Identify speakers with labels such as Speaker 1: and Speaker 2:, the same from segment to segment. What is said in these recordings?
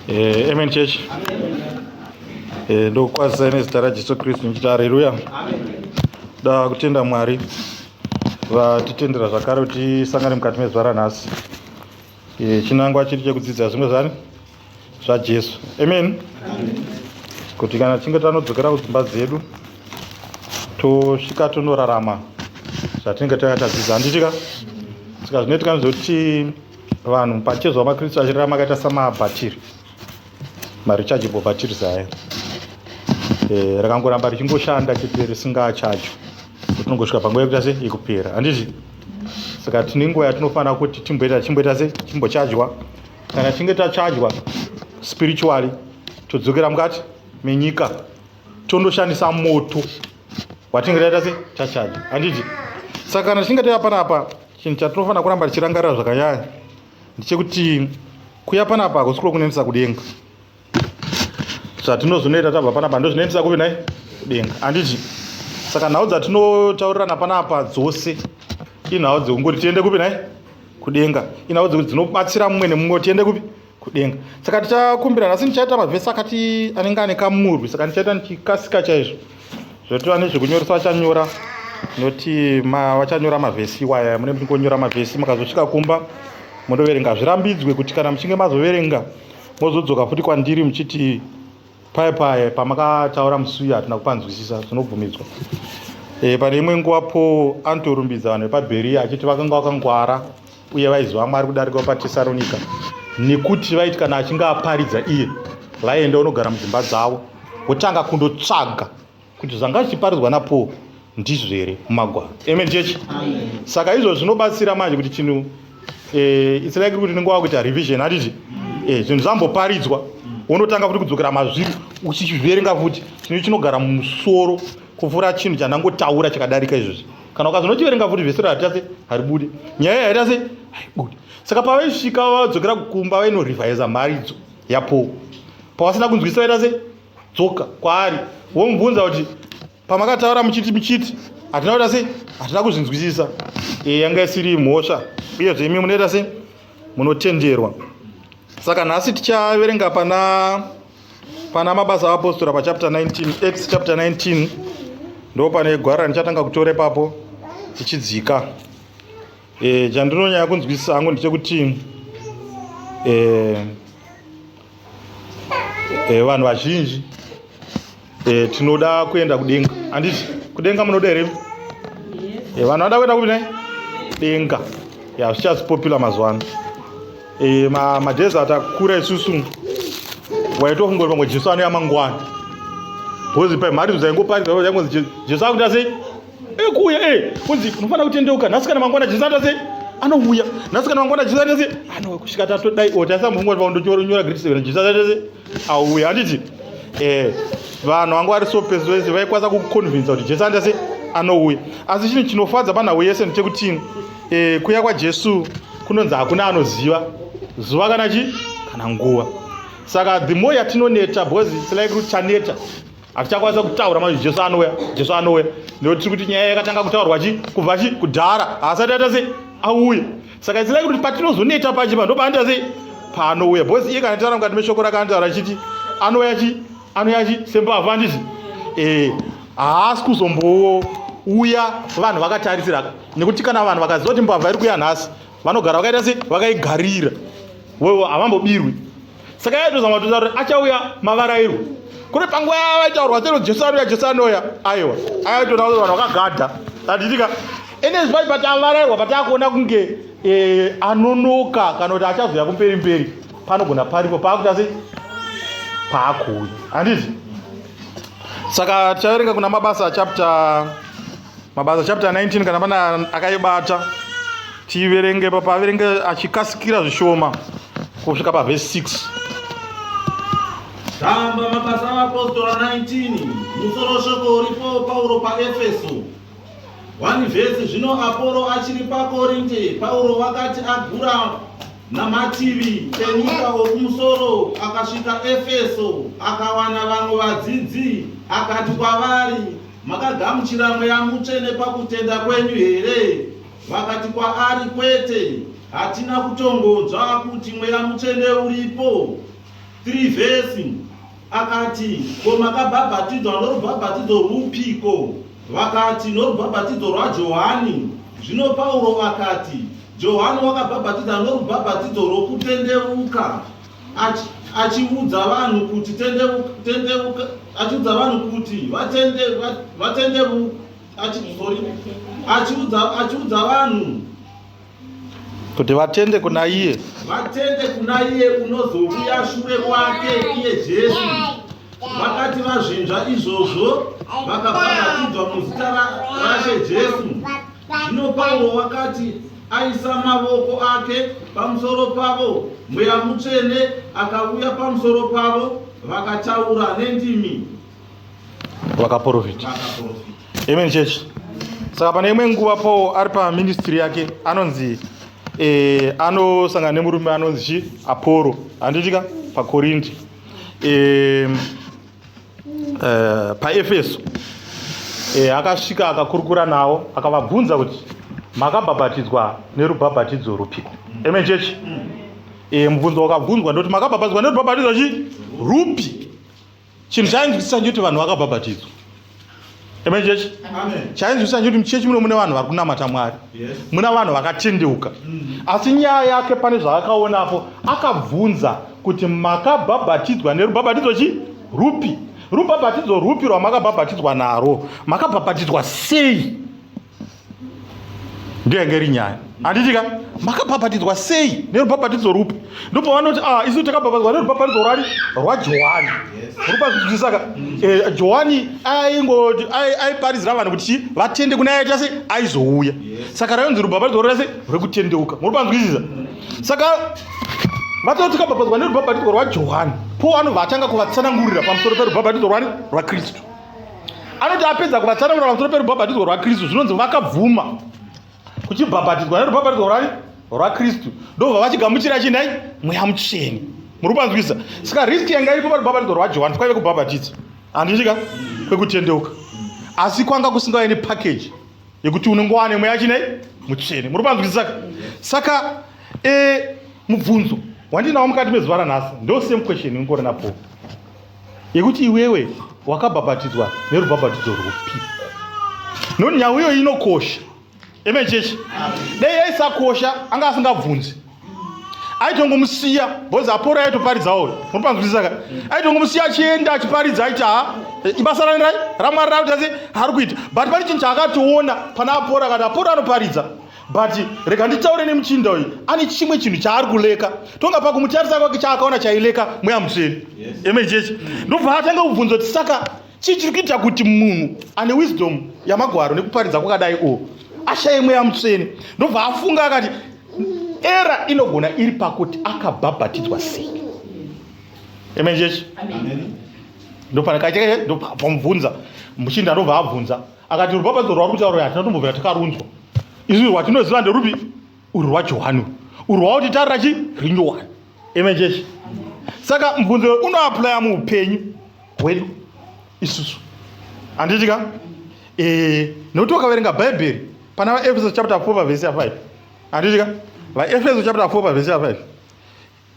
Speaker 1: Eh, amen church. Eh, ndokukwazisai nezita rajesu kristu ndichiti hareruya da kutenda mwari vatitendera zvakare kuti tisangane mukati mezuva ranhasi eh, chinangwa chiri chekudzidza zvimwe zvani zvajesu amen kuti kana tichinge tanodzokera kudzimba dzedu tosvika tonorarama zvatinenge tanga tadzidza handitika saka zvinoitika ndezvekuti vanhu pachezvo makristu achirarama akaita samabhatiri marechargeable batteries aya eh, rakangoramba richingoshanda chete risingachacho tinongosvika panguva yekuita se yekupera handizvi saka tine nguva yatinofanira kuti timboita chimboita se chimbochajwa kana tichinge tachajwa spiritually todzokera mukati menyika tondoshandisa moto watinge taita se tachaja handiti saka kana tichinge tava panapa chinhu chatinofanira kuramba tichirangarira zvakanyanya ndechekuti kuya panapa hakusi kulo kunenisa kudenga zvatinozonoita tabva panapa ndozvinenisa kuve nai kudenga handiti saka nhau dzatinotaurirana panapa dzose inhau dzekungoti tiende kupi nai kudenga inhau dzekuti dzinobatsira mumwe nemumwe tiende kupi kudenga saka tichakumbira nhasi ndichaita mavhesi akati anenge ane kamurwi saka ndichaita ndichikasika chaizvo zvoti vane zvekunyoresa vachanyora noti vachanyora mavhesi iwaya mune muchingonyora mavhesi mukazosvika kumba motoverenga zvirambidzwe kuti kana muchinge mazoverenga mozodzoka futi kwandiri muchiti paye paye pamakataura musi uya hatina kupanzwisisa zvinobvumidzwa e, eh, pane imwe nguva paul anotorumbidza vanhu vepaberia achiti vakanga vakangwara uye vaiziva mwari kudarika patesaronika nekuti vaiti kana achinge aparidza iye vaienda unogara mudzimba dzavo votanga kundotsvaga kuti zvanga zvichiparidzwa napaul ndizvo here mumagwaro amen chechi saka izvo zvinobatsira manje kuti chinhu eh, it's like kuti unenge wakuita revision hatiti eh, zvinhu zvamboparidzwa wonotanga futi kudzokera mazviri uchichiverenga futi chinhu chinogara mumusoro kupfuura chinhu chandangotaura chakadarika izvozvi kana ukazvinochiverenga futi vhesero harita se haribude nyaya yaita se haibude saka pavaisvika vadzokera kukumba vainorivhaiza mharidzo yapo pavasina kunzwisisa vaita se dzoka kwaari womubvunza kuti pamakataura muchiti muchiti hatina kuita sei hatina kuzvinzwisisa e, yanga isiri mhosva uyezve imi munoita sei munotenderwa saka nhasi tichaverenga pana pana mabasa aapostora pachapter 19 acts chapter 19 ndo pane gwara ndichatanga kutora ipapo tichidzika e, chandinonyaya kunzwisisa hangu ndechekuti e, e, vanhu vazhinji e, tinoda kuenda kudenga anditi kudenga munoda here yes. e, vanhu vanoda kuenda kupi ne denga ya zvichasi popular mazuva ano e, ma, madhezi atakura isusu waitofungori pamwe jesu anoya mangwana bhozi pamharidzo dzaingoparidza yaingonzi jesu akuita sei ekuuya eh, eh kunzi unofanira kutendeuka nhasi kana mangwana chisata sei anouya nhasi kana mangwana chisata sei anouya kusvika tatodai o tasambongwa paundonyora grade seven chisata sei auya handiti eh vanhu vanga vari so peso vese vaikwanisa kukuconvinsa kuti jesu andase anouya asi chinhu chinofadza panhau yese ndechekuti eh, kuya kwajesu kunonzi hakuna anoziva zuva kana chi kana nguva saka the more yatinoneta because its like kuti taneta hatichakwanisa kutaura manzi jesu anouya jesu anouya nekuti tiri kuti nyaya yakatanga kutaurwa chi kubva chi kudhara haasati aita sei auye saka itsirai kuti patinozoneta pachi pa ndopaanoita sei paanouya bhosi iye kana taura mukati meshoko rakanotaura chiti anouya chi anouya chi sembavhu anditi ee haasi kuzombowo uya vanhu vakatarisira nekuti kana vanhu vakaziva kuti mbavha iri kuya nhasi vanogara vakaita sei vakaigarira wewo havambobirwi saka yaitozama kutoita kuti achauya mavarairo kune panguva yavaitaurwa sero jesu anouya jesu anouya aiwa aitoona kuti vanhu vakagadha tatitika enezvi pai patavarairwa pataakuona kunge eh, anonoka kana kuti achazoya kumberi mberi panogona paripo paakuita sei paakuuya handiti saka tichaverenga kuna mabasa chapter Mabasa chapter 19 kana pana akaibata tiverenge papa averenge achikasikira zvishoma kusvika pavhesi 6
Speaker 2: tamba mabasa avapostora 19 musoro shoko uripo pauro paefeso 1 vhesi zvino aporo achiri pakorinte pauro wakati agura namativi enyika wokumusoro akasvika efeso akawana vamwe vadzidzi akati kwavari Makagamuchira mweya mutsvene pakutenda kwenyu here? Vakati kwaari, Kwete, hatina kutongonzwa kuti mweya mutsvene uripo. 3 vhesi akati, Ko makabhabhatidzwa norubhabhatidzo rwupiko? Vakati, Norubhabhatidzo rwaJohani. Zvino Pauro akati, Johani wakabhabhatidza norubhabhatidzo rwokutendeuka. Achi, achiudza vanhu kuti tendeuka, tendeuka, achiudza vanhu kuti vatende, vatendeuka, achi, sorry, achiudza, achiudza vanhu
Speaker 1: kuti vatende kuna iye, vatende kuna iye unozouya
Speaker 2: shure kwake, iye Jesu. Vakati vazvinzva izvozvo, vakabhabhatidzwa muzita raShe Jesu. Zvino Pauro wakati aisa mavoko ake pamusoro pavo, mweya mutsvene akauya pamusoro pavo, vakataura nendimi,
Speaker 1: vakaprofita. Vakaprofita. Amen church. Saka pane imwe nguva Paul ari paministry yake anonzi eh, anosangana nemurume anonzi chi Apollo handitika paKorindi eh, uh, paefeso e, akasvika akakurukura navo akavabvunza kuti makabhabhatidzwa nerubhabhatidzo rupiko amen chechi e, eh, mubvunzo wakabvunzwa ndoti makabhabhatidzwa nerubhabhatidzo chi rupi chinhu chainzwisisa ndikuti vanhu vakabhabhatidzwa Amen church. Amen. Chainzwisa nje kuti muchechi muno mune vanhu vari kunamata Mwari. Yes. Muna vanhu vakatendeuka. Mm. Asi nyaya yake pane zvaakaonapo akabvunza kuti makabhabhatidzwa nerubhabhatidzo chi rupi? Rubhabhatidzo rupi rwamakabhabhatidzwa naro? Makabhabhatidzwa sei? ndiyo yange iri nyaya handiti ka makabhabhatidzwa sei nerubhabhatidzo rupi ndopavanoti a ah, isu takabhabhatidzwa nerubhabhatidzo rwani rwajohani rupazvizvisaka eh, johani aingoti aiparizira vanhu kuti chii vatende kune aita se aizouya saka rainzi rubhabhatidzo rwese rwekutendeuka muri panzwisisa saka vatoti kabhabhatidzwa nerubhabhatidzo rwajohani po anobva atanga kuvatsanangurira pamusoro perubhabhatidzo rwani rwakristu anoti apedza kuvatsanangura pamusoro perubhabhatidzwa rwakristu zvinonzi vakabvuma kuchibhabhatidzwa nerubhabhatidzwa rwani rwakristu ndobva vachigamuchira chinai mweya mutsveni muri kupanzwisa saka risk yanga iripo parubhabhatidzwa rwajohani kwaive kubhabhatidza handichika kwekutendeuka asi kwanga kusingae nepakeji yekuti unenge wane mweya chinai mutsveni muri kupanzwisa saka saka e, mubvunzo wandinawo mukati mezuva ranhasi ndo same question ingori napo yekuti iwewe wakabhabhatidzwa nerubhabhatidzo rwupi nekuti nhau iyoyi inokosha eme chechi dai yaisakosha anga asingabvunzi aitongomusiya bhozi apora yaitoparidzawo unopanzwisisaka aitongomusiya achienda achiparidza aiti ha ibasa rani rai ramwari rakuti asi ari kuita but pane chinhu chaakatoona pana apora akati apora anoparidza but rega nditaure nemuchinda uyu ane chimwe chinhu chaari kuleka tonga pakumutarisa kwake chaakaona chaileka mweya mutsvene amen chechi ndobva atanga kubvunza kuti saka chii chiri kuita kuti munhu ane wisdom yamagwaro nekuparidza kwakadai o ashaye mweya mutsvene ndobva afunga akati era inogona iri pakuti akabhabhatidzwa sei amen chechi ndopana kacheke ndopamubvunza muchinda ndobva abvunza akati rupapadzo rwauri kutaura uyu hatina tombobvira takarunzwa izvi rwatinoziva nderupi uri rwajohani uri rwaoti tarira chi rinyowani amen chechi saka mubvunzo unoaplya muupenyu hwedu isusu handiti ka eh, nekuti wakaverenga bhaibheri pana vaefeso chapter 4 pavhesi ya 5 handiti ka vaefeso chapter 4 pavhesi ya 5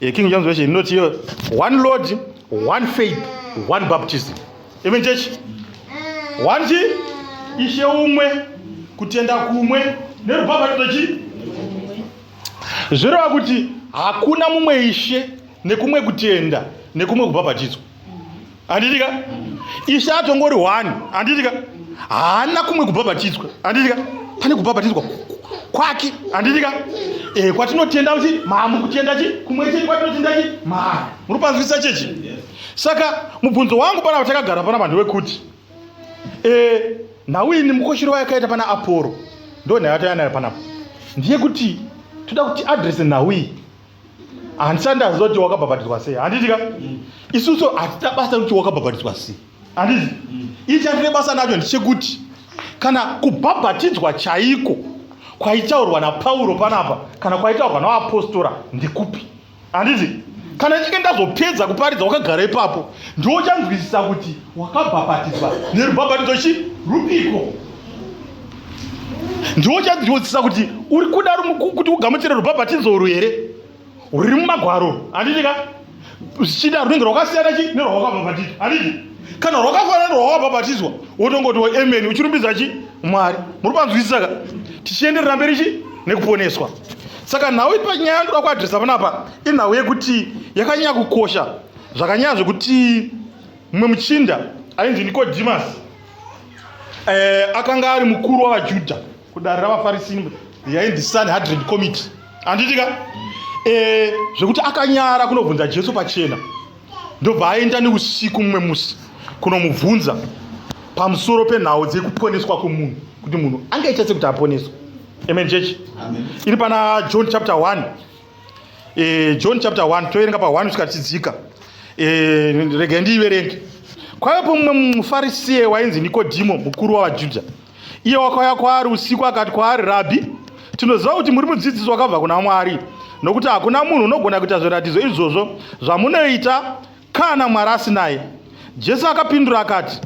Speaker 1: yeking james version inoti iyo one lord one faith one baptism amen church one chi ishe umwe kutenda kumwe nerubhabhatidzo chi zvireva kuti hakuna mumwe ishe nekumwe kutenda nekumwe kubhabhatidzwa handiti ka ishe atongori one handiti ka haana kumwe kubhabhatidzwa handiti ka pane kubhabhatidzwa kwake handiti ka e, kwatinotenda kuti maa mukutenda chi kumwe chete kwatinotenda chi maa muri panzwisa chechi saka mubvunzo wangu pana vatakagara pana vanhu vekuti e, eh, nhau ini mukoshero wayakaita pana aporo ndo nhayo atayanayo panapo ndiye kuti toda kuti adrese nhau iyi handisati ndaziva kuti wakabhabhatidzwa sei handiti ka mm. isusu hatina basa kuti wakabhabhatidzwa sei handiti mm. ii chatine basa nacho ndichekuti kana kubhabhatidzwa chaiko kwaitaurwa napauro panapa kana kwaitaurwa navapostora ndekupi handiti kana ichinge ndazopedza kuparidza wakagara ipapo ndiwo uchanzwisisa kuti wakabhabhatidzwa nerubhabhatidzo chi rupiko ndiwo uchanzwisisa kuti uri kuda kuti ugamuchire rubhabhatidzo urwu here ruri mumagwaro handiti ka zvichida runenge rwakasiyana chi nerwawakabhabhatidzwa handiti kana rwakafanana nerwawakabhabhatidzwa wotongoti weamen uchirumbidza chi mwari muri panzwisisa ka tichienderera mberi chi nekuponeswa saka nhau ipa nyaya yandoda kuadresa panapa inhau yekuti yakanyanya kukosha zvakanyanya zvekuti mumwe muchinda ainzi nikodhimasi eh, akanga ari mukuru wavajudha kudare ravafarisi yainzi sanhadren committee anditika eh, zvekuti akanyara kunobvunza jesu pachena ndobva aenda neusiku mumwe musi kunomubvunza pamusoro penhau dzekuponeswa kwemunhu kuti munhu angaita sekuti aponeswa amen chechi iri pana john chapter 1 e, john chapter 1 toverenga pa 1 kusvika tichidzika e, eh, regai ndiiverenge kwaipo mumwe mufarisiye wainzi nikodhimo mukuru wavajudha iye wakauya kwaari usiku akati kwaari rabhi tinoziva kuti muri mudzidzisi wakabva kuna mwari nokuti hakuna munhu unogona kuita zviratidzo izvozvo zvamunoita kana mwari asinaye jesu akapindura akati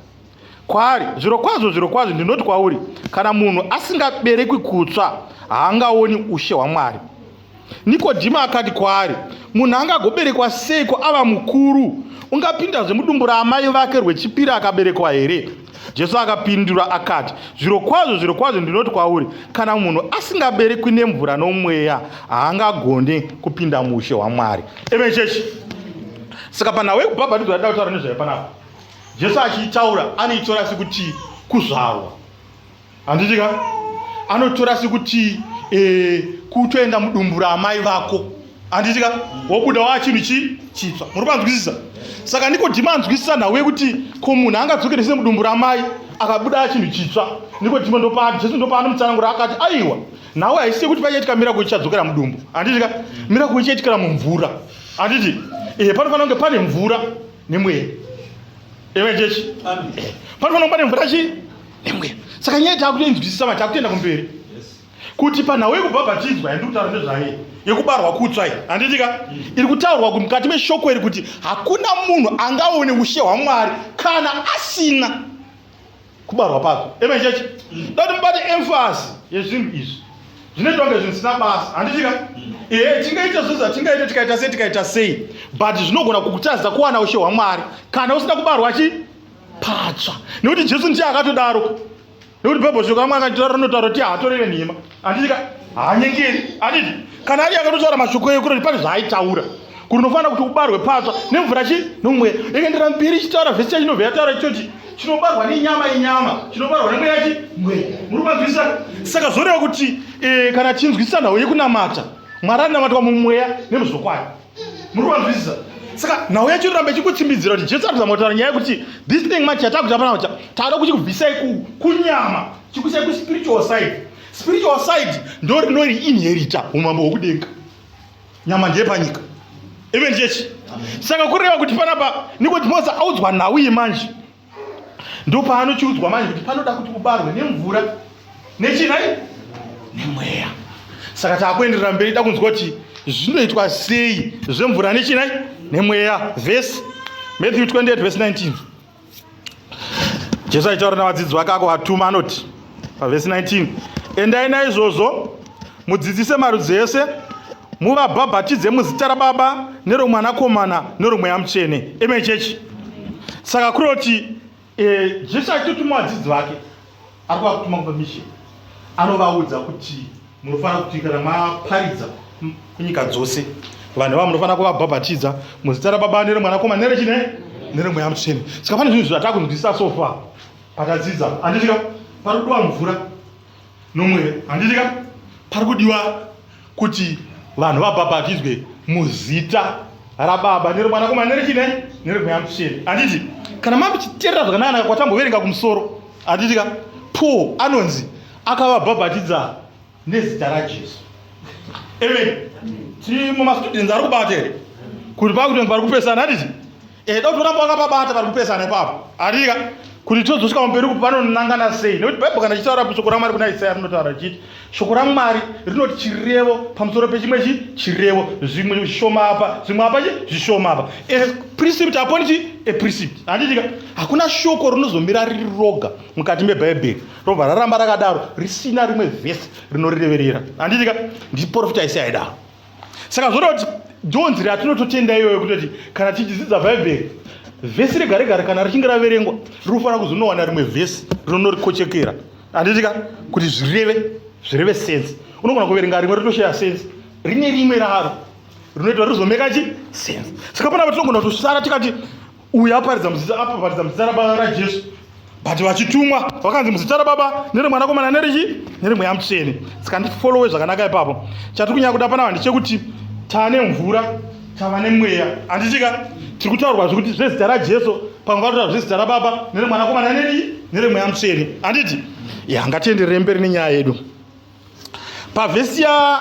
Speaker 1: kwaari zvirokwazvo zvirokwazvo ndinoti kwauri kana munhu asingaberekwi kutsva haangaoni ushe hwamwari nikodhima akati kwaari munhu angagoberekwa seiko ava mukuru ungapindazve mudumbu raamai vake rwechipiri akaberekwa here jesu akapindura akati zvirokwazvo zvirokwazvo ndinoti kwauri kana munhu asingaberekwi nemvura nomweya haangagone kupinda muushe hwamwari emechechi saka panhau yekubhabhatidzwa yadida kutaura nezvayo panapa jesu achiitaura anoitora sekuti kuzvarwa handiti ka anotora sekuti e, kutoenda mudumbu raamai vako handiti ka wobuda waa chinhu chi chitsva muri kwanzwisisa saka nikodhima anzwisisa nhau yekuti ko munhu angadzokere se mudumbu ramai akabuda chinhu chitsva nikodhima ndopa jesu ndopaanomutsarangura akati aiwa nhau haisi yekuti pachaitika mirako ichadzokera mudumbu handiti ka mirako ichaitikira mumvura handiti e, panofanira kunge pane mvura nemweya eve chechi panofanira kuba nemvura chii nemweya saka nyaya takutoinzwisisa ma takutoenda kumberi kuti panhau yekubhabhatidzwa yandiri kutaura nezvaye yekubarwa kutswa i handitika mm. iri kutaurwa kuti mukati meshoko iri kuti hakuna munhu angaone ushe hwamwari kana asina kubarwa pako amen church dati mubate emfasi yezvinhu izvi zvinoitwa kunge zvinhu zvisina basa handichika mm. ehe tingaita zvo zvatingaita tikaita sei tikaita sei but zvinogona kukutadzisa kuwana ushe hwamwari kana usina kubarwa chi patsva nekuti jesu ndiye akatodaro nekuti bhaibheri zvokamwe akatitaura rinotaura kuti haatoreve nhema Handiti ka haanyengeri handiti kana ari akatotaura mashoko eyo kutoti pane zvaaitaura kuti unofanira kuti ubarwe patsva nemvura chi nomweya ikaendera mberi ichitaura vhesi chacho inobva yataura ichoti chinobarwa nenyama inyama chinobarwa nemweya chi mweya muri kumanzwisisa saka zvoreva kuti eh, kana tinzwisisa nhau yekunamata mwari anonamatwa mumweya nemuzvokwadi muri kuvanzwisisa saka nhau yacho inoramba ichikutsimbidzira kuti jesu arikuza motaura nyaya yekuti this thing manje yatakuta pana kuti taada kuchikubvisai kunyama chikusai kuspiritual side spiritual side ndo rinori inherita umambo hwekudenga nyama ndeyepanyika even chechi saka kureva kuti panapa nikuti mose audzwa nhau iyi manje ndopaanochiudzwa manje kuti panoda kuti ubarwe nemvura nechii nhai nemweya saka taakuenderera mberi da kunzwa kuti zvinoitwa sei zvemvura nechii nhai nemweya vhesi matthew 28 vhesi 19 jesu aitaura navadzidzi vake ako vatuma anoti pavhesi 19 endai naizvozvo Mudzidzise marudzi ese, muvabhabhatidze muzita raBaba neromwanakomana neromweya mutsvene. Amen church. Saka kuroti eh, Jesu achitotuma vadzidzi vake ari kuvakutuma kupa misheni anovaudza kuti munofanira kuti kana maparidza kunyika dzose vanhu vavo munofanira kuvabhabhatidza muzita rababa neremwanakomana nerechine neremweya mutsvene saka pane zvinhu zvatakunzwisisa sofa patadzidza anditika pari kudiwa mvura nomwe here handiti ka pari kudiwa kuti vanhu vabhabhatidzwe muzita rababa neromwanakomana nerechidai neremweya mutsvene handiti kana makuchiterera zvakanaka kwatamboverenga kumusoro handiti ka paul anonzi akavabhabhatidza nezita rajesu amen tiri mumastudents ari kubata here kuti pakuti vanhu vari kupesana handiti Eh, da kutora panga pabata vari kupesana ipapo arika kuti tozosvika mumberi kupi vanonangana sei nekuti bhaibheri kana ichitaura kuti shoko ramwari kuna isaya rinotaura richiti shoko ramwari rinoti chirevo pamusoro pechimwe chi chirevo zvimwe zvishoma apa zvimwe apa chi zvishoma apa eprecept aponi chi eprecept handitika hakuna shoko rinozomira riri roga mukati mebhaibheri robva raramba rakadaro risina rimwe vhesi rinorireverera handitika ndiprofita isaya idaro saka zvoda kuti ndiwo nzira yatinototenda iyoyo kutoti kana tichidzidza bhaibheri vhesi rega regare kana richinge raverengwa rinofanira kuzonowana rimwe vhesi rinonorikochekera handitika kuti zvireve zvireve sense unogona kuverenga rimwe ritoshaya sense rine rimwe raro rinoita rizomeka chi sense saka panapa tinogona kutosara tikati uyo aparidza muzita apaparidza muzita rababa rajesu but vachitumwa vakanzi muzita rababa neremwanakomana nerichi neremweya mutsvene saka ndifolowe zvakanaka ipapo chatiri kunyaya kuda panava ndechekuti tane mvura tava nemweya handitika tiri kutaurwa zvekuti zvezita rajesu pamwe vatotaura zvezita rababa neremwanakomana nerichi neremweya mutsvene handiti ya ngatienderere mberi nenyaya yedu pavhesi ya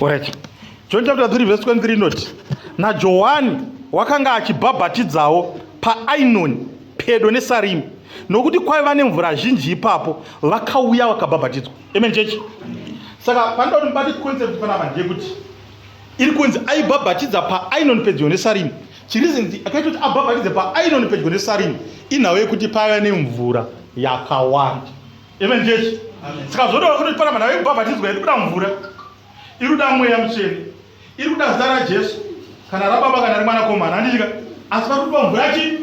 Speaker 1: Alright. John chapter 3 verse 23 inoti naJohani wakanga achibhabhatidzawo paainoni pedo nesarimi nokuti kwaiva nemvura zhinji ipapo vakauya vakabhabhatidzwa amen chechi saka panoda kuti mubati concept panapa ndeyekuti iri kunzi aibhabhatidza paainoni pedyo nesarimi Chirizinzi akaita kuti abhabhatidze paainoni pedyo nesarimu inhau yekuti paiva nemvura yakawanda. Amen church. Saka zvoda kuti pana manhau yekubhabhatidzwa iri kuda mvura, iri kuda mweya mutsvene, iri kuda zita raJesu kana rababa kana remwanakomana andidika asi pari kuda mvura yachi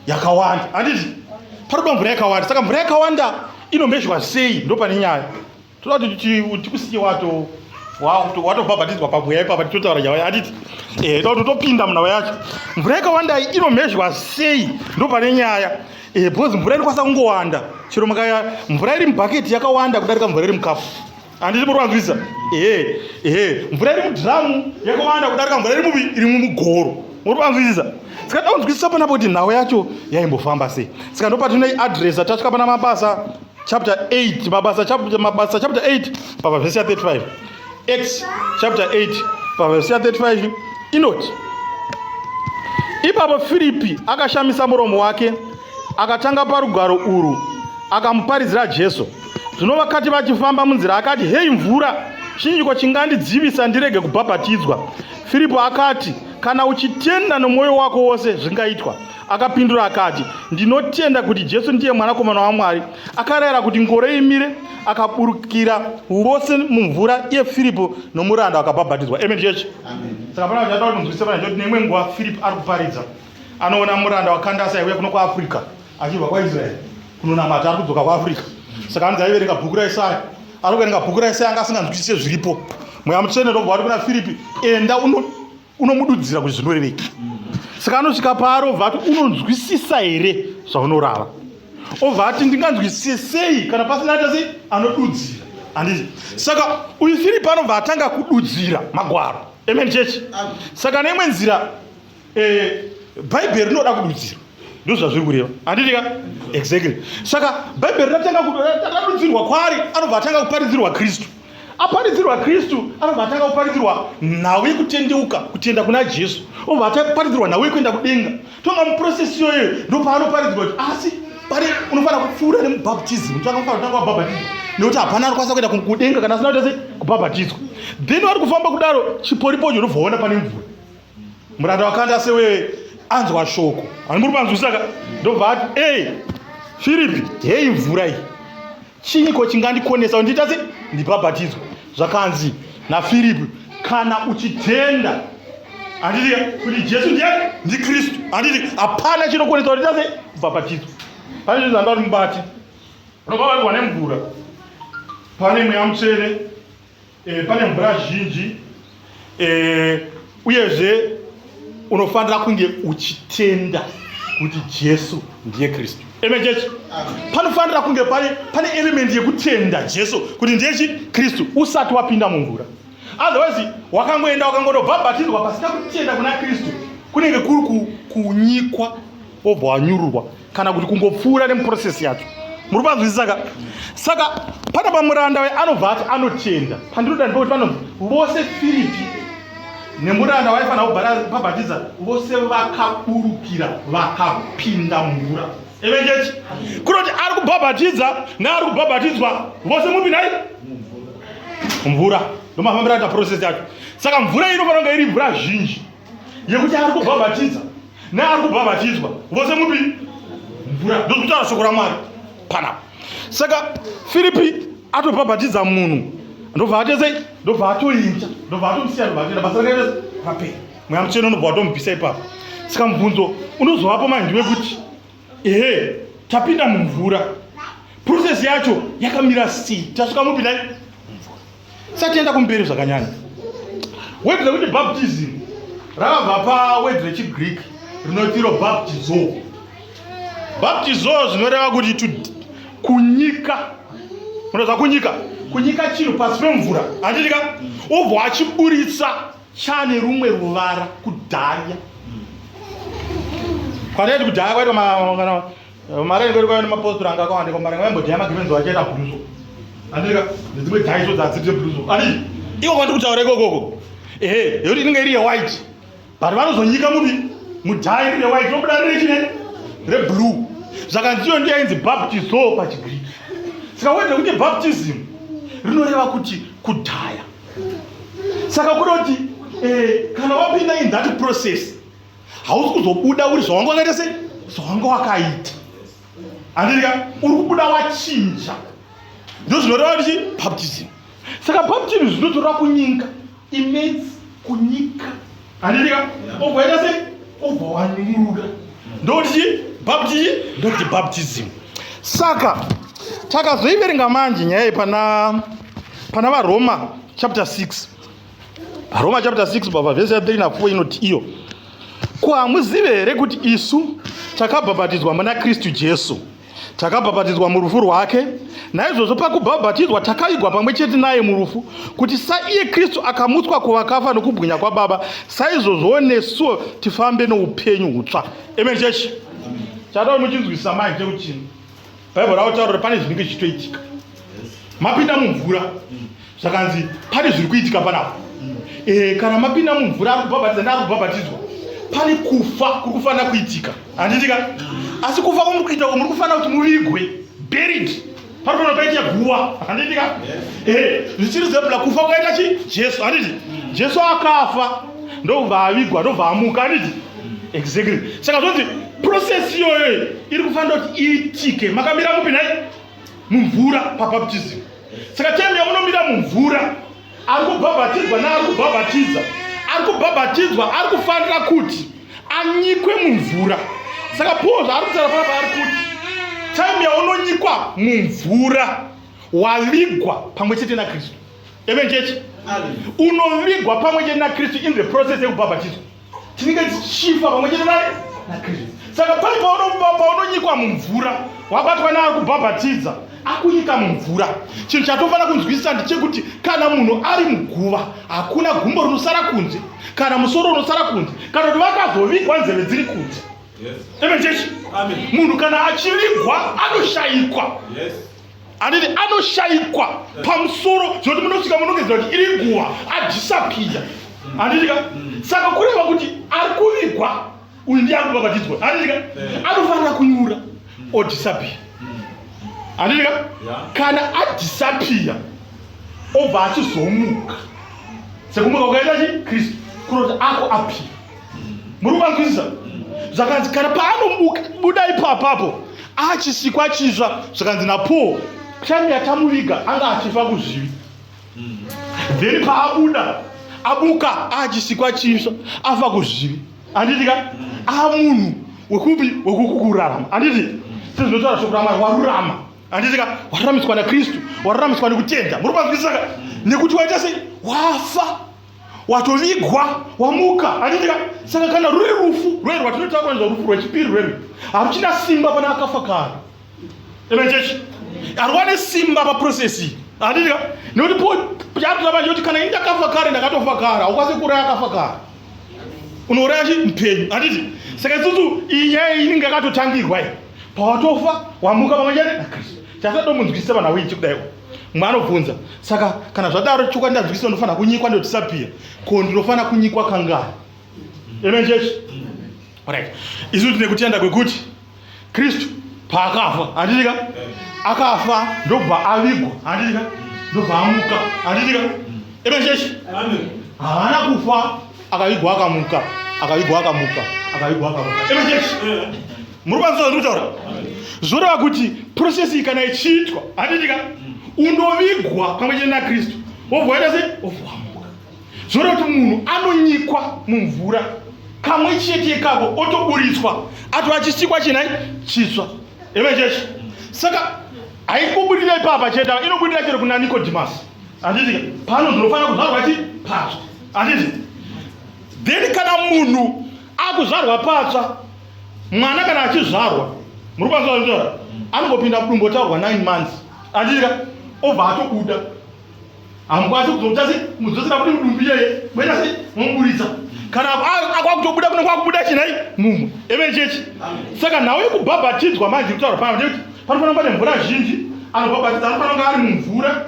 Speaker 1: yakawanda anditi pari kuda mvura yakawanda saka mvura yakawanda inomhezhwa sei ndopane nyaya toda kuti tikusike wato watobhabhatidzwa pamweya ipapa titotaura nyaya yacho atiti eh, toda kuti topinda munhava yacho mvura yakawandai inomhezhwa sei ndo pane nyaya eh, because mvura inokwanisa kungowanda chero makaya mvura iri mubhaketi yakawanda kudarika mvura iri mukafu handiti muri vanzwisa ehe ehe mvura iri mudhiramu yakawanda kudarika mvura iri mubi iri mumugoro muri vanzwisisa saka daunzwisisa panapo kuti nhau yacho yaimbofamba sei saka ndopatine adress atasvika pana mabasa chapter 8 mabasa chapter mabasa chapter 8 pava verse ya 35 acts chapter 8 pava verse ya 35 inoti ipapo firipi akashamisa muromo wake akatanga parugwaro urwu akamuparidzira jesu zvino vakati vachifamba munzira akati hei mvura chinyiko chingandidzivisa ndirege kubhabhatidzwa firipo akati kana uchitenda nomwoyo wako wose zvingaitwa Akapindura akati, Ndinotenda kuti Jesu ndiye Mwanakomana waMwari. Akarayira kuti ngoro imire, akaburukira vose mumvura iye Firipo nomuranda wakabhabhatidzwa. Amen church. Saka pana kuti ataura kunzwisisa pana kuti neimwe nguva Firipo ari kuparidza. Anoona muranda wakandasa aiuya kuno kuAfrica achibva kwaIsrael kunonamata ari kudzoka kuAfrica. Saka anzi aiverenga bhuku raIsaya. Ari kuverenga bhuku raIsaya anga asinganzwisise zviripo. Mweya mutsvene ndobva wati kuna Firipi, enda uno unomududzira kuti zvinoreveki saka anosvika paari obva ati unonzwisisa here zvaunorava obva ati ndinganzwisise sei kana pasina ata sei anodudzira handiti saka uyu firipi anobva atanga kududzira magwaro amen church saka neimwe nzira eh, bhaibheri rinoda kududzirwa ndo zvazviri kureva handiti ka exactly saka bhaibheri ratanga kududzirwa kwaari anobva atanga kuparidzirwa kristu aparidzirwa kristu anobva atanga kuparidzirwa nhau yekutendeuka kutenda kuna jesu obva ataparidzirwa nhau yekuenda kudenga tonga muprocess iyoyo ndopaanoparidzirwa kuti asi pane unofanira kupfuura nemubhaptism tanga kufanira kutanga wabhabhatizwa nekuti hapana anokwanisa kuenda kudenga kana asina kutase kubhabhatizwa then wari kufamba kudaro chiporipocho unobvaona pane mvura muranda wakanda sewe anzwa shoko ani muri panzwisaka ndobva ati e firipi heyi mvura iyi chiiko chingandikonesa kuti ndiita sei ndibhabhatidzwe zvakanzi nafiripi kana uchitenda handiti kuti jesu ndiye ndikristu handiti hapana chinokonesa kuti ndiita sei kubhabhatidzwa pane zvinhu zvandati mubati unobva vaigwa nemvura pane mweya mutsvene e, pane mvura zhinji e, uyezve unofanira kunge uchitenda kuti jesu ndiye kristu amen church panofanira kunge pane pane element yekutenda jesu kuti ndiye chi kristu usati wapinda mumvura otherwise wakangoenda wakangondobhabhatidzwa pasina kutenda kuna kristu kunenge kuri kunyikwa obva wanyururwa kana kuti kungopfuura nemuprocess yacho muri panzwisisa ka saka pana pamuranda waye anobva ati anotenda pandinoda ndipekuti pano vose firipi nemuranda waifanira kubhara pabhatiza vose vakaburukira vakapinda mumvura evenjechi kunoti ari kubhabhatidza neari kubhabhatidzwa vose mupi nhai mvura ndomafambira ta process yacho saka mvura inofanira kunge iri mvura zhinji yekuti ari kubhabhatidza neari kubhabhatidzwa vose mupi mvura ndozikutaura shoko ramwari panapa saka firipi atobhabhatidza munhu ndobva atesei ndobva atoinja ndobva atomusiya ndobva atoenda basa rakaita rapera mweya mucheno unobva watomubvisa ipapo saka mubvunzo unozovapo maindi wekuti ehe tapinda mumvura process yacho yakamira sei tasvika mupi nai satienda kumberi zvakanyanya wedzi rekuti baptism rakabva pawedzi rechigreek rinotiro baptizo baptizo zvinoreva kuti kunyika unoza kunyika kunyika chinhu pasi pemvura handitika obva achiburitsa chane rumwe ruvara kudhaya kwataiti kudhaya kwaitwa mari ainge iri kwaiva nemapostori anga akawanda kwambara nga vaimbodhaya magemenzi vachaita bluso andirika nedzimwe dhaiso dzadzirite bluso adi iwo kwandi kutaura ikokoko ehe yekuti inenge iri yewhite but vanozonyika mubi mudhaya iri yewhite robuda riri chine reblue zvakanziyo ndiyo ainzi baptiso pachigriki saka wede kuti baptism rinoreva kuti kudhaya saka kuda kuti eh, kana wapinda in that process hausi kuzobuda uri zvawanga wakaita sei zvawanga wakaita andirika uri kubuda wachinja ndozvinoreva kuti baptism saka baptism zvinotora kunyika imedzi kunyika handiti ka ubva ita sei ubva wanyunguruka ndokuti chii bapti chii ndokuti baptism saka takazoiverenga manje nyaya iyi pana pana varoma chapter 6 roma chapter 6 bva vhesi ya 3 na4 inoti iyo ko hamuzive here kuti isu takabhabhatidzwa muna kristu jesu Takabhabhatidzwa murufu rwake, naizvozvo pakubhabhatidzwa takaigwa pamwe chete naye murufu, kuti saiye Kristu akamutswa kuvakafa nokubwinya kwaBaba, saizvozvowo nesuwo tifambe noupenyu hutsva. Amen chechi. Chadao muchinzwisisa mai chekuchini. Bhaibheri autaura pane zvinenge zvichitoitika. mapinda mumvura zvakanzi pane zviri kuitika panapo eh, kana mapinda mumvura ari kubhabhatiza nda ari kubhabhatidzwa pane kufa kuri kufanira kuitika handitika asi kufa kwamuri kuita ko muri kufanira kuti muvigwe buried pari kuona paita guva handitika eh, zvichiri zebla kufa kwaita chi jesu handiti jesu akafa ndobva avigwa ndobva amuka handiti exactly saka zvonzi process iyoyo iri kufanira kuti iitike makamira mupi nhai mumvura pabaptism saka time yamunomira mumvura ari kubhabhatidzwa naari kubhabhatidza ari kubhabhatidzwa ari kufanira kuti anyikwe mumvura saka paul zvaari kutaura papa ari kuti time yaunonyikwa mumvura wavigwa pamwe chete nakristu evenchechi unovigwa pamwe chete nakristu in the process yekubhabhatidzwa tinenge tichifa pamwe chete naye nakristu saka pai paunonyikwa mumvura wabatwa naye kubhabhatidza akunyika mumvura chinhu chatofanira kunzwisisa ndechekuti kana munhu ari muguva hakuna gumbo rinosara kunze kana musoro unosara kunze kana kuti vakazovigwa nzeve dziri kunze amen chechi munhu kana achivigwa anoshayikwa yes. handiti anoshaikwa pamusoro zvekuti munosvika munogezera kuti iri guva adhisapiya handitika mm. saka kureva kuti ari kuvigwa uyu ndiye ari kubhabhatidzwa handitika eh. anofanira kunyura mm. odhisapiya mm. handitika kana adhisapiya obva achizomuka sekumuka ukaita chi kristu kuroti ako apira muri kuvanzwisisa zvakanzi kana paanomuka buda ipapapo achisikwa chitsva zvakanzi napaul time yatamuviga anga achifa kuzvivi then paabuda abuka achisikwa chitsva afa kuzvivi anditi ka amunhu wekupi wekukukurarama anditi sezvinotaura shoko ramwari warurama anditi ka waruramiswa nakristu waruramiswa nekutenda muri kuvanzwisisa ka nekuti waita sei wafa watovigwa wamuka handidika saka kana ruri rufu rwei rwatinotaura nezva rufu rwechipiri rwei haruchina simba pana akafa kare amen church haruwane simba paprocess iyi handidika nekuti po chatoda manje kuti kana ini ndakafa kare ndakatofa kare haukwanise kuuraya akafa kare unouraya chi mupenyu handiti saka isusu iyi nyaya iyi inenge yakatotangirwa iyi pawatofa wamuka pamwe chete nakristu chasatomunzwisisa vanhu awinji kudaiwo mumwe anobvunza saka kana zvadaro chokwadi ndazvikisa ndofanira kunyikwa ndotisapira ko ndinofanira kunyikwa kangani amen church right isu tine kutenda kwekuti kristu paakafa handitika akafa ndobva avigwa handitika ndobva amuka handitika amen church haana kufa akavigwa akamuka akavigwa akamuka akavigwa akamuka amen church muri kwanisa zvatikutaura zvoreva kuti process iyi kana ichiitwa hatitika unovigwa pamwe chete nakristu wobva waita se ovamuka zvoreva kuti munhu anonyikwa mumvura kamwe chete ikako otoburitswa atova achisikwa chinai chitswa eve chechi saka haikubudira ipapa chete ava inobudira chero kuna nikodhimasi handitika pano ndinofanira kuzvarwa ti patswa handiti then kana munhu akuzvarwa patsva mwana kana achizvarwa muri kwanisa kutaura anongopinda mudumbu otaurwa 9 months andika obva atobuda hamukwanisi kuzotasi muzosina kuti mudumbu iyeye moita sei momuburitsa kana akwakutobuda kuno kwakubuda chinai mumwe even chechi saka nhau yekubhabhatidzwa manje kutaura pano ndekuti panofanira kuva nemvura zhinji anobhabhatidza anofanira kunge ari mumvura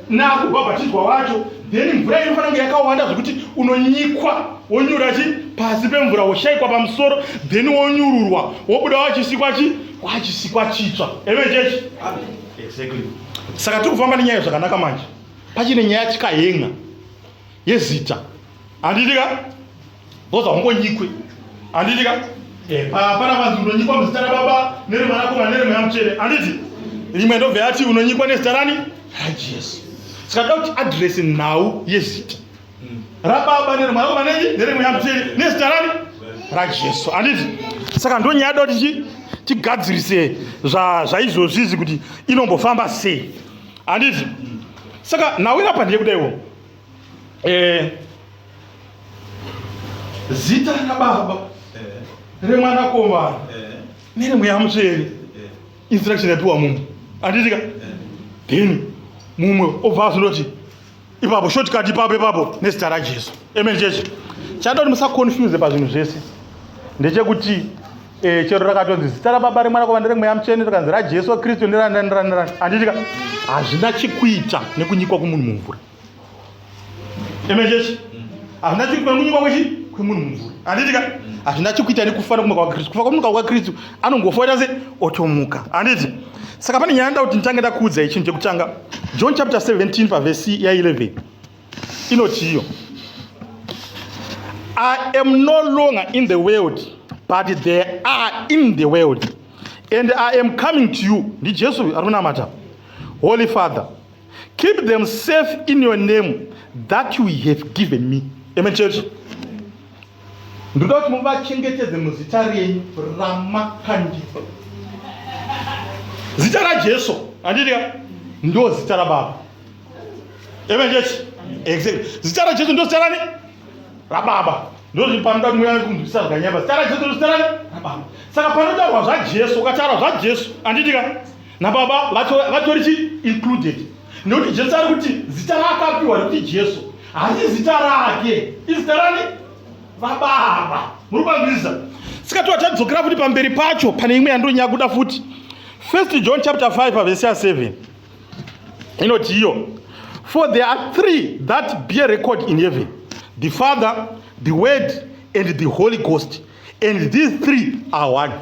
Speaker 1: nakubhabhatidzwa wacho then mvura inofanira kunge yakawanda zvekuti unonyikwa wonyura chi pasi pemvura woshaikwa pamusoro then wonyururwa wobuda wachisikwa chi wachisikwa chitsva eve chechi exactly saka tiri kufamba nenyaya zvakanaka manje pachine nyaya chikahenga yezita handiti ka boza ungonyikwe handiti ka eh, hapana vanzi unonyikwa muzita rababa neremwanakomana neremweya mutsvene handiti rimwe ndobve yati unonyikwa nezita rani rajesu saka toda kuti adresi nhau yezita hmm. rababa neremwanakomana nei neremweya mutsvene nezita rani rajesu handiti saka ndonyaya da kuti tigadzirise zvaizvozvizi kuti inombofamba sei handiti saka nhau irapa ndeyekudaiwo eh, zita rababa eh, remwanakomana eh, neremweya mutsvene eh, instruction yapiwa mumwe anditika eh, then mumwe obva azondoti ipapo shortcut ipapo ipapo nezita rajesu amen chechi chandoti musaconfuse pazvinhu zvese ndechekuti eh, chero rakatonzi zita rababa remwanakomana remweya mutsvene rikanzi rajesu kristu ndirani ndirani ndirani anditika hazvina chekuita nekunyikwa kumunhu mumvura Amen church. Hazvina chiri kwemunyika kwechi kwemunhu mumvuri. Handiti ka? Hazvina chikuita nekufa nekumuka kwaKristu. Kufa kwemuka kwaKristu anongofa oita se otomuka. Handiti? Saka pane nyaya ndoda kuti nditange ndakuudza ichinhu chekutanga. John chapter 17 pavhesi ya11 inoti iyo I am no longer in the world but they are in the world and I am coming to you. NdiJesu ari kunamata. Holy Father. Keep them safe in your name that you have given me. Amen, church. Ndoda kuti muvachengetedze muzita renyu ramakandipa. Zita raJesu, andidika, ndo zita raBaba. Amen, church. Exactly. Zita raJesu ndo zita rani? RaBaba. Ndozvi panoda kuti muyani kundisa zvakanyamba. Zita raJesu ndo zita rani? RaBaba. Saka panotaurwa zvaJesu, ukataura zvaJesu, andidika, nababa vatori chi included nekuti jesu ari kuti zita raakapiwa rekuti jesu hasi zita rake izita rani vababa muri kwanzisa sika toa tadzokera futi pamberi pacho pane imwe yandonyaya kuda futi first john chapter 5 pavhesi ya 7 inoti iyo for there are three that bear record in heaven the father the word and the holy ghost and these three are one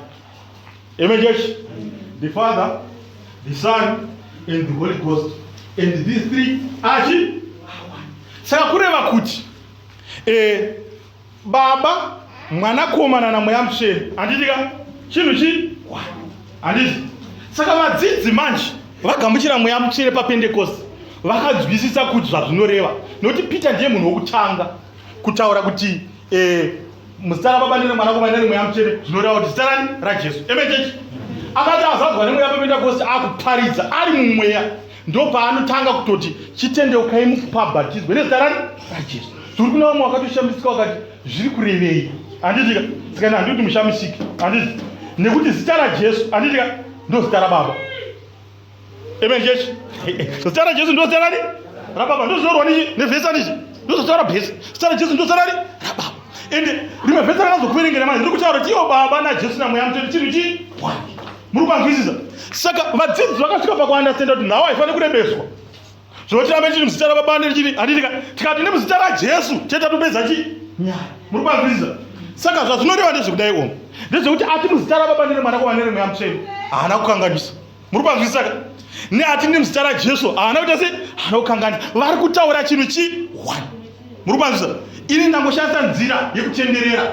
Speaker 1: Amen, church. The Father, the Son, and the Holy Ghost. And these three are chi? Saka kureva kuti eh, baba mwanakomana namweya mutsvene handitika chinhu chi handiti saka vadzidzi manje vagamuchira mweya mutsvene papendekosti vakanzwisisa kuti zvazvinoreva nokuti peter ndiye munhu wokutanga kutaura kuti eh, muzita rababa neremwanakomana neremweya mutsvene zvinoreva kuti zita rani rajesu emechechi akati azadzwa nemweya pependakosti akuparidza ari mumweya ndo paanotanga kutoti chitendeukai mukupabhatizwe nezita rani rajesu tiri kuna vamwe wakatoshamisika wakati zviri kurevei handitika sikana handii kuti mushamisiki handiti nekuti zita rajesu handitika ndo zita rababa Amen church. Zita raJesu ndiro zita rani? RaBaba. Ndiro zvinorwa nevhesa nizvi. Ndiro zita raBhesa. Zita raJesu ndiro zita rani? RaBaba. Ende rimwe vhesa rakazokuverengera manje riri kutaura kuti iwo Baba naJesu naMweya Mutsvene chinhu chii? Muri kwanzwisisa? Saka vadzidzi vakasvika pakuandastenda kuti nhau haifaniri kurebeswa. zvekuti tirambe tiri muzita rababa nechiri handitika tikati ne muzita rajesu chete tatopedza chi nyaya muri kwanzwisisa saka zvazvinoreva ndezvekudai omu ndezvekuti ati muzita rababa nere mwana kwavanere mweya mutsveni haana kukanganisa muri kwanzwisisa ka ne ati ne muzita rajesu haana kuita se haana kukanganisa vari kutaura chinhu chi one muri kwanzwisisa ini ndangoshandisa nzira yekutenderera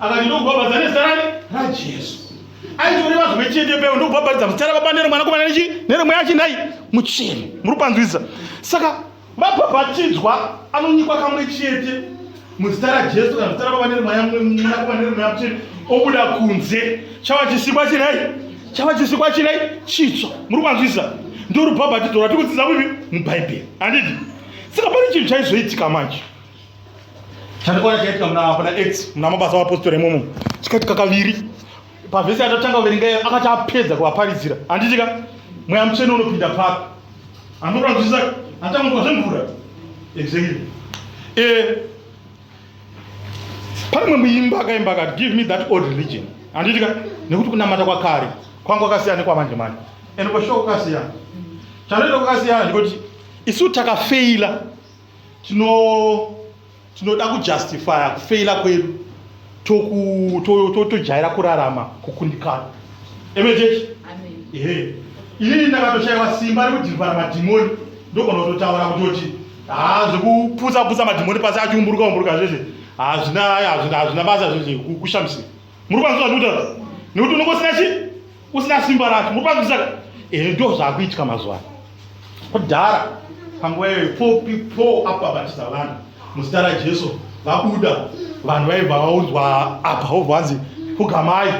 Speaker 1: akati ndokubhabhadza nezita rani rajesu aitore vanhu vechete peyo ndokubhabhadza muzita rababa neremwanakomana nechi neremweya achinai mucheni muri kupanzwisisa saka vabhabhatidzwa anonyikwa kamwe chete muzita rajesu kana muzita rababa neremwanakomana neremweya mucheni obuda kunze chava chisikwa chinai chava chisikwa chinai chitsva muri kupanzwisisa ndorubhabhatidzwa rwatikudzidza kupi mubhaibheri handiti saka pane chinhu chaizoitika manje chandikuona chaitika muna pana x muna mabasa apostori imomo chikaitika kaviri pavhesi yatotanga kuverenga iyo akati apedza kuvaparidzira handitika mweya mutsvene unopinda papi anotora kuzvisa atanga kuva zvemvura exactly eh, pane mwe muimba akaimba akati give me that old religion handitika nekuti kunamata kwakare kwanga kwakasiyana nekwamanje manje and kwashoka kwakasiyana chanoita kwakasiyana ndikuti isu takafeila tino tinoda kujustifya kufeila kwedu tojaira kurarama kukundikana emechechi ehe inini ndakatoshaiwa simba rekudhirivhara madhimoni ndogona kutotaura kutoti haa zvekuputsa putsa madhimoni pasi achiumburuka umburuka zvese hazvina basa zvese kushamisira muri kwanzwa zvandikutaura nekuti unongosina chii usina simba racho muri panzwisa ere ndo zvakuitika mazuva ano kudhara panguva iyoyo po pipo apa batisa vanhu muzita rajesu vabuda vanhu vaibva vaudzwa apa obva vanzi pugamai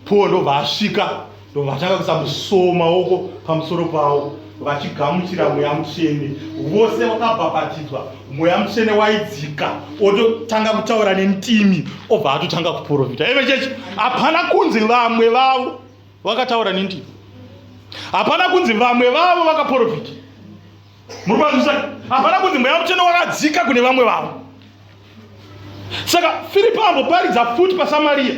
Speaker 1: po ndobva asvika ndobva atanga kusamusoma oko pamusoro pavo vachigamuchira mweya mutsvene vose vakabhabhatidzwa mweya mutsvene waidzika ototanga kutaura nentimi obva atotanga kuprofita eve chechi hapana kunzi vamwe vavo vakataura nentimi hapana kunzi vamwe vavo vakaprofita muri kwanzisa hapana kunzi mweya mutsvene wakadzika kune vamwe vavo saka firipo amboparidza futi pasamariya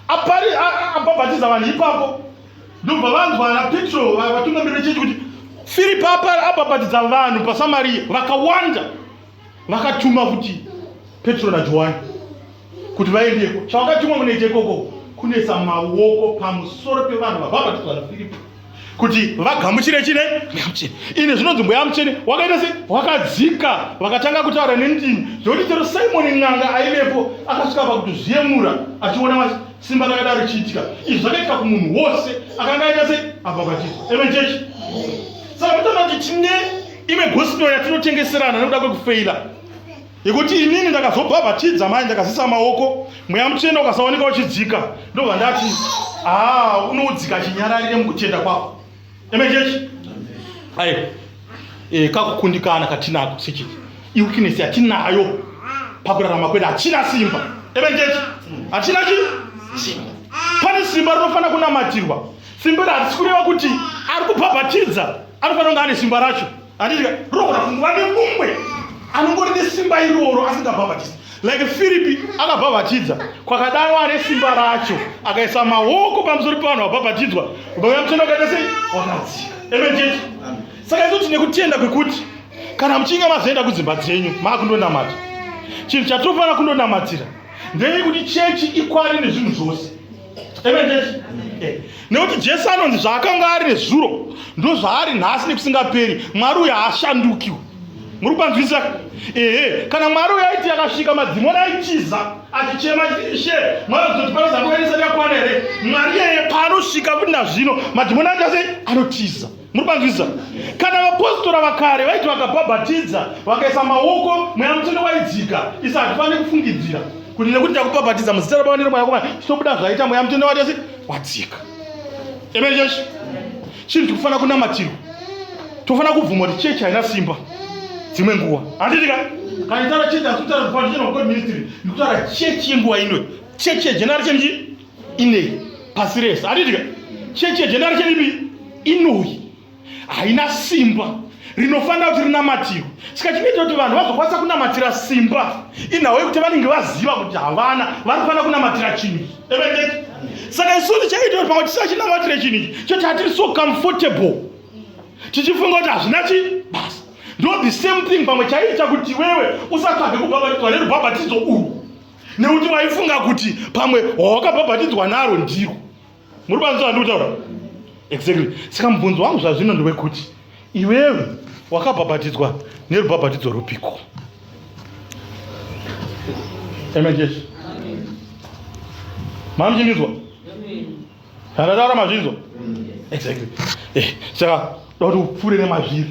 Speaker 1: abhabhatiza vanhu ipapo ndobva vanzwa ana petro vatungamirira chechi kuti firipo abhabhatidza vanhu pasamariya vakawanda vakatuma kuti petro najohani kuti vaendeko chavakatumwa munoita ikoko kunetsa maoko pamusoro pevanhu vabhabhatidzwa nafiripo kuti vagamuchire chine mweyamutsvene ine zvinonzi mweya mutsvene wakaita se wakadzika vakatanga kutaura nendimi zvokuti chero simoni n'anga aivepo akasvika pakutozviyemura achiona simba rakada richiitika izvi zvakaitika kumunhu wose akanga aita se abhabhatizo amen church saka mutana kuti tine imwe gospel yatinotengeserana nekuda kwekufeira Nekuti inini ndakazobhabhatidza mai ndakazisa maoko mweya mutsvene ukasaoneka uchidzika ndobva ndati haa unoudzika chinyararire mukutenda kwako amen church ayo e, kakukundikana katinako sechii iwikinesi yatinayo pakurarama kwedu hatina simba amen church hatina chi simba pane simba rinofanira kunamatirwa simba iri harisi kureva kuti ari kubhabhatidza anofanira kunge ane simba racho Atika roora fungu vane mumwe anongori nesimba iroro asingabhabhatisi like firipi akabhabhatidza kwakadaro ane simba racho akaisa maoko pamusoro pevanhu vabhabhatidzwa vauya mutenda wakaita sei wakadzika amen church saka izoti nekutenda kwekuti kana muchinge mazoenda kudzimba dzenyu maakundonamata chinhu chatofanira kundonamatira ndeyekuti chechi ikwari nezvinhu zvose Eh, nekuti jesu anonzi zvaakanga ari nezuro ndo zvaari nhasi nekusingaperi mwari uyo haashandukiwo muri kwanzwisisa ehe kana mwari uyo aiti yakasvika madzimoni aitiza achichema she mwari kuzoti panozakuaisati yakwana here mwari yeye paanosvika kuti nazvino madzimoni aita sei anotiza muri panzwisa kana vapostora vakare vaiti vakabhabhatidza vakaisa maoko mweya mutsvene waidzika isa hatifanire kufungidzira kuti nekuti ndakubhabhatidza muzita rababa neremwanakomana chitobuda zvaita mweya mutsvene watese wadzika amen church chinhu tikufanira kunamatirwa tofanira kubvuma kuti chechi haina simba dzimwe nguva handiti ka kana itara chechi asi kutaura zvifananidzo chenokod ministry ndikutaura chechi yenguva ino chechi yejenari chenji inei pasi rese handiti ka chechi yejendari cheripi inoi haina simba rinofanira kuti rinamatirwe saka chinoita kuti vanhu vazokwanisa kunamatira simba inhawo yekuti vanenge vaziva kuti havana vari kufanira kunamatira chinhu evetete saka isusu chaita kuti pamwe tisachinamatire chinhu ichi choti hatiri so comfortable tichifunga kuti hazvina chi basa ndo the same thing pamwe chaiita kuti wewe usatsvage kubhabhatidzwa nerubhabhatidzo urwu nekuti waifunga kuti pamwe hawakabhabhatidzwa naro ndiro muri panzwa ndi kutaura exactly saka mubvunzo wangu zvazvino ndewekuti iwewe wakabhabhatidzwa nerubhabhatidzo rupiko amen jesu mamuchinginzwa handataura mazvinzwa exactly eh, saka doti upfuure nemazviri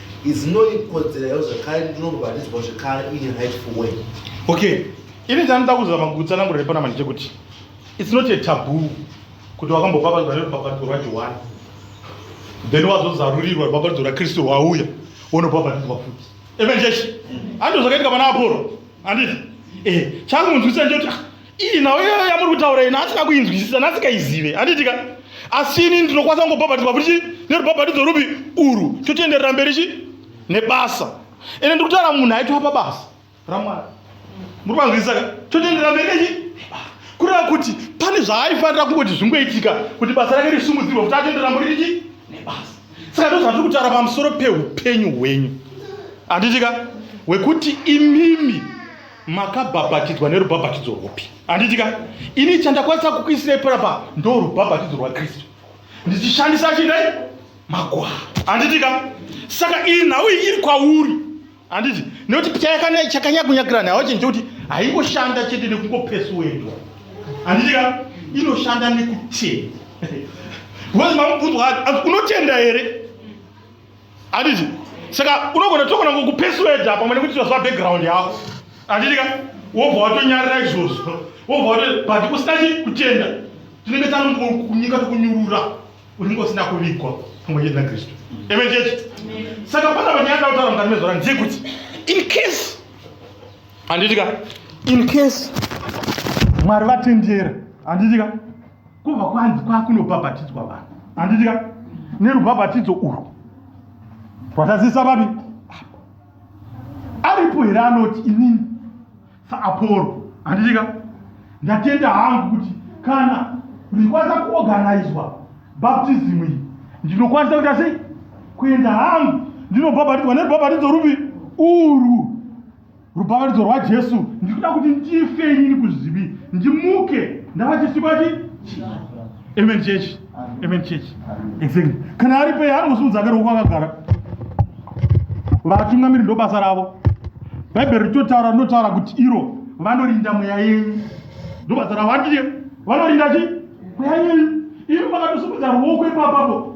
Speaker 3: izinoikodzerayo zvekare ndinorwaridzwa zvekare in
Speaker 1: rightful way okay ini chandida kuzama kugutsana murere pana manje kuti its not a taboo kuti wakambopapadzwa nerubhabhatidzo rwajohani then wazozarurirwa rubhabhatidzo rakristu rwauya wonopapadzwa futi evenjeshi andizvo zvakaitika pana aporo handiti ehe chakunzwisa nje kuti ah, iyi nhau iyoyo yamuri kutaura ina asina kuinzwisisa nasikaizive handiitika asi ini ndinokwanisa kungobhabhatidzwa kuti chii nerubhabhatidzo rupi urwu chotienderera mberi chii nebasa ende ndiri kutaura munhu aitwa pabasa ramwana muri kwanzwisisa ka chotienderera mberi nechii kureva kuti pane zvaaifanira kungoti zvingoitika kuti basa rake risumudzirwa kuti atoenderera mberi chii nebasa saka ndozvatiri kutaura pamusoro peupenyu hwenyu handiitika hwekuti imimi makabhabhatidzwa nerubhabhatidzo rwopi handitika ini chandakwanisa kukuisirai parapa ndo rubhabhatidzo rwakristu ndichishandisa chidai magwaa handitika saka iyi nhau iyi iri kwauri handiti nekuti chakanyakunyakirani hawachinje kuti haingoshanda chete nekungopesuwendwa handitika inoshanda nekutenda because mamubvunzwa ati unotenda here handiti saka unogona togona kukupesueda pamwe nekuti tinoziva background yako handiti ka wobva watonyarira izvozvo wobva wato but usina chi kutenda tinenge tanokunyika tokunyurura unenge usina kuvigwa pamwe chete nakristu amen chechi saka pana panyaya ndautaura mukati mezora ndeyekuti in case handiti ka in case mwari vatendera handiti ka Kubva kwanzi kwakunobhabhatidzwa vanhu. Handiti ka? Nerubhabhatidzo urwu. Rwatazisa vapi? Aripo here anoti inini saApollo. Handiti ka? Ndatenda hangu kuti kana ndikwanisa kuorganizwa baptism iyi ndinokwanisa kuita sei kuenda hangu ndinobhabhatidzwa nerubhabhatidzo rupi urwu rubhavanidzo rwajesu ndikuda kuti ndife inini kuzvivi ndimuke ndava chisikwa chi amen church amen church exactly kana ari pei anozviudza kare uko akagara vatungamiri ndobasa ravo bhaibheri ritotaura rinotaura kuti iro vanorinda mweya yenyu ndobasa ravo andie vanorinda chi mweya yenyu imi makatosumudza ruoko ipapapo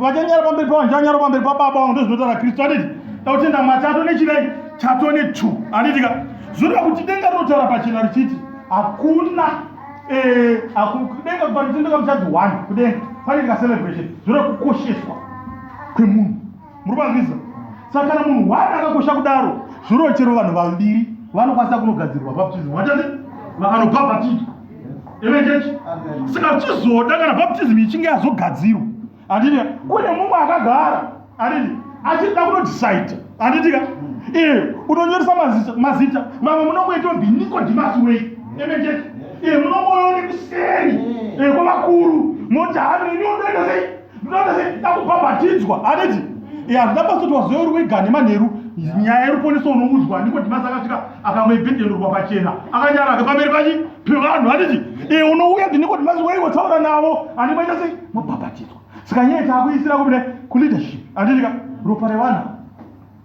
Speaker 1: vachanyara pamberi pavanhu ndichanyara pamberi pababa vangu ndozvinotaura kristu anditi takutenda mwari chato nechidai chato netu anditi ka zvoreva kuti denga rinotaura pachena richiti hakuna eh, denga kuparitendeka muchadzi one kudenga panoitika celebration zvoreva kukosheswa kwemunhu muri kwanzisa saka kana munhu one akakosha kudaro zvoreva chero vanhu vaviri vanokwanisa kunogadzirwa baptism vachati vanobhabhatizwa ere chechi saka chizoda kana baptism ichinge yazogadzirwa handiti kune mumwe akagara handiti achida kunodecide handitika ee unonyoresa mazita mazita vamwe munongoita ndi nikodimasi wei emeje ee munongoone kuseri ee kwavakuru moti hano ini unoenda sei ndinoda sei ndida kubhabhatidzwa aneti ya ndida pasi kuti wazoya uri wega nemanheru nyaya yeruponeso unoudzwa ndiko dhimasi akasvika akamwe ibhendelurwa pachena akanyara ake pamberi pachi pevanhu aneti e unouya ndiniko dhimasi waiwe taura navo ane maita sei mabhabhatidzwa saka nyaya taakuisira kumine kuleadership anditika ropa revana